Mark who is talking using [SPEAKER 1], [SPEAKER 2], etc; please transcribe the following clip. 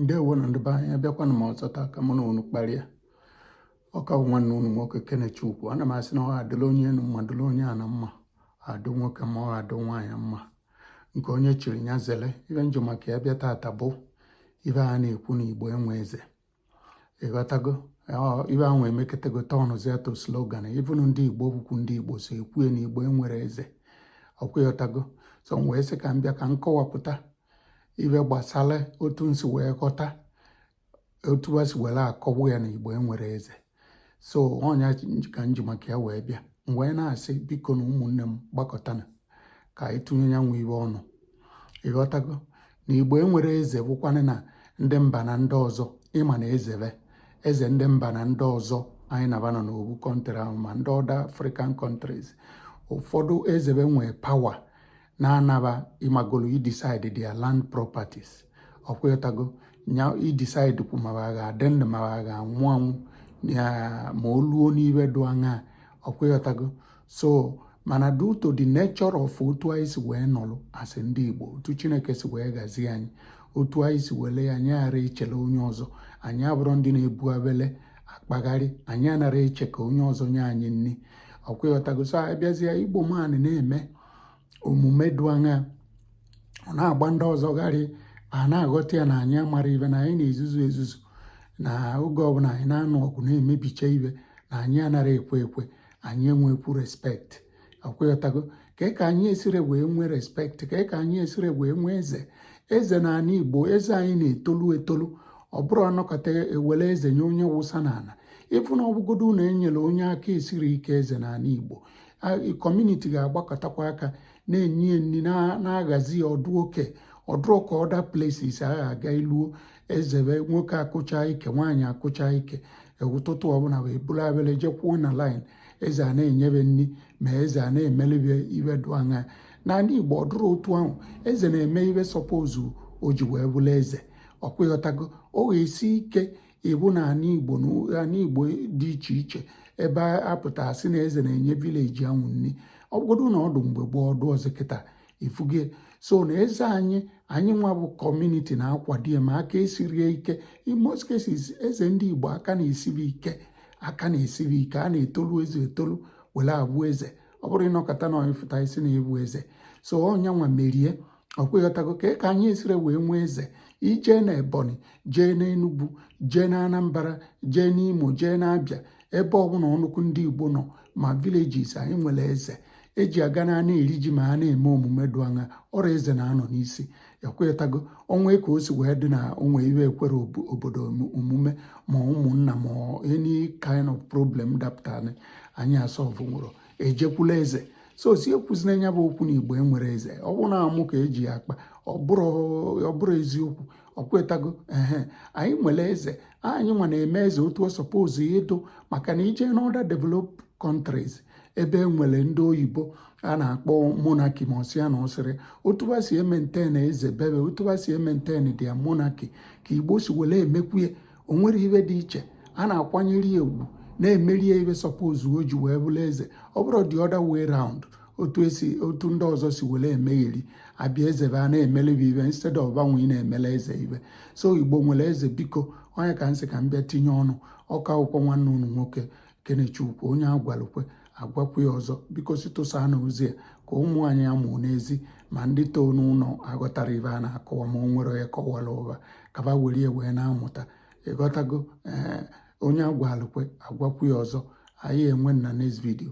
[SPEAKER 1] ndewo nụ ndị be anyị abịakwana m ọzọ taa ka mụ na unu kparịa ọ ka bụ nwanne unu nwoke Kenechukwu ana m asị na ọ adịla onye enu mma dịla onye ana mma adụ nwoke mma adụ nwaanyị mma nke onye chiri ya zere ibe m ji maka ya bịa tata bụ ibe a na-ekwu na igbo enwe eze ịghọtago ibe ahụ emekatago tọnụzie to slogan even ndị igbo bụkwu ndị igbo so ekwu na igbo enwere eze ọkwa ịghọtago so m wee sị ka m bịa ka m kọwapụta ibe gbasara otu m si wee ghọta otu a si were akọwa ya na igbo enwere eze so ọ nya ka m ji maka ya wee bịa m wee na-asị biko na ụmụnne m gbakọtanụ ka anyị tụnye ya nwa ibe ọnụ ịghọtago na igbo enwere eze bụkwanụ na ndị mba na ndị ọzọ ịma na eze be eze ndị mba na ndị ọzọ anyị na ba nọ n'obu country ahụ ma ndị other african countries ụfọdụ eze be nwee power na ana ba ịmagolo idecide their land properties ọkwa ịghọtago nya idecidekwu ma ha ga-adị ndụ ma ha ga-anwụ anwụ ma o luo n'ibe dụ anya ọkwa ịghọtago so mana due to the nature of otu anyị si wee nọlụ as ndị Igbo otu Chineke si wee gazie anyị otu anyị si wele ya anyị ghara ichele onye ọzọ anyị abụrụ ndị na-ebu abele akpagharị anyị anara eche ka onye ọzọ nye anyị nri ọkwa ịghọtago so abịazie Igbo man na-eme omume dụ anya ọ na-agba ndị ọzọ gharị a na-aghọta ya na anyị amara ibe na anyị na-ezuzu ezuzu na oge ọbụla anyị na-anụ ọgụ na-emebicha ibe na anyị anara ekwe ekwe anyị enwekwu respect ọkwa ịghọtago kee ka anyị esire wee nwee respect kee ka anyị esire wee nwee eze eze na ana igbo eze anyị na-etolu etolu ọ bụrụ a nọkata e were eze nye onye wụsa n'ana even ọ bụgodu na e nyere onye aka esiri ike eze n'ana igbo community ga-agbakọtakwa aka na-enye ya nri na-aghazi ya ọ dụ ka ọ dụrụ ka other places a ga-aga iluo eze be nwoke akụcha ike nwaanyị akụcha ike e, ụtụtụ ọbụla wee buru abele jekwuo na line eze ana-enye be nri ma eze ana-emele be ibe dụ anya n'ana igbo ọ dụrụ otu ahụ eze na-eme ibe suppose o ji wee bụrụ eze ọkwa ịghọtago ọ ga-esi ike ịbụ na ana igbo na ana igbo dị iche iche ebe a pụta sị na eze na-enye village anwụ nri ọ bụgodu na ọ dụ mgbe gboo ọ dụrọzi kịta ịfụgo so na eze anyị anyị nwa bụ community na-akwado ya ma aka esirie ike in most cases eze ndị igbo aka na-esi be ike aka na-esi be ike a na-etolu eze etolu were abụ eze ọ bụrụ ị nọkata na ị pụta sị na ị bụ eze so ọ nya nwa mere ọkwa ịghọtago ka ka anyị esire wee nwee eze i jee na ebonyi jee na enugwu jee na anambra jee n'imo jee na abịa ebe ọbụla ọnụkwụ ndị igbo nọ ma villages anyị nwere eze eji aga na ana eri ji ma a na-eme omume dụ anya ọ bụrụ eze na-anọ n'isi ọkwa ịghọtago o nwee ka o si wee dị na onwe iwe ekwere obodo omume ma ụmụnna ma any kind of problem dapụtara anyị asolve nwurọ ejekwula eze so sị ekwuzina nya bụ okwu na igbo enwerọ eze ọ bụrụ na amụ ka eji ya akpa ọ bụrọ eziokwu ọkwa ịghọtago ee anyị nwere eze anyị nwa na-eme eze otu ọ suppose ịdụ maka na i jee n'other developed countries ebe e nwere ndị oyibo a na-akpọ monarchy ma ọsịa na ọsịrị otu ba si emaintain eze be ba otu ba si emaintain their monarchy ka igbo si were emekwuye o nwere ibe dị iche a na-akwanyere ya ugwu na-emere ya ibe suppose o ji wee bụrụ eze ọ bụrọ the other way round otu ndị ọzọ si were emegheri abịa eze ba na-emele ba ibe instead of banwa ị na-emele eze ibe so igbo nwere eze biko ọ nya ka m sị ka m bịa tinye ọnụ ọ ka bụkwa nwanne unu nwoke kenechukwu onye a gwalụ kwe a gwakwu ya ọzọ biko sị tụsanụ ozi a ka ụmụ anyị a mụ n'ezi ma ndị too n'ụlọ aghọtara ibe a na-akọwa ma o nwere onye kọwarụ ba ka ba were ya wee na-amụta ịghọtago ee onye a gwalụ kwe a gwakwu ya ọzọ anyị enwe na next video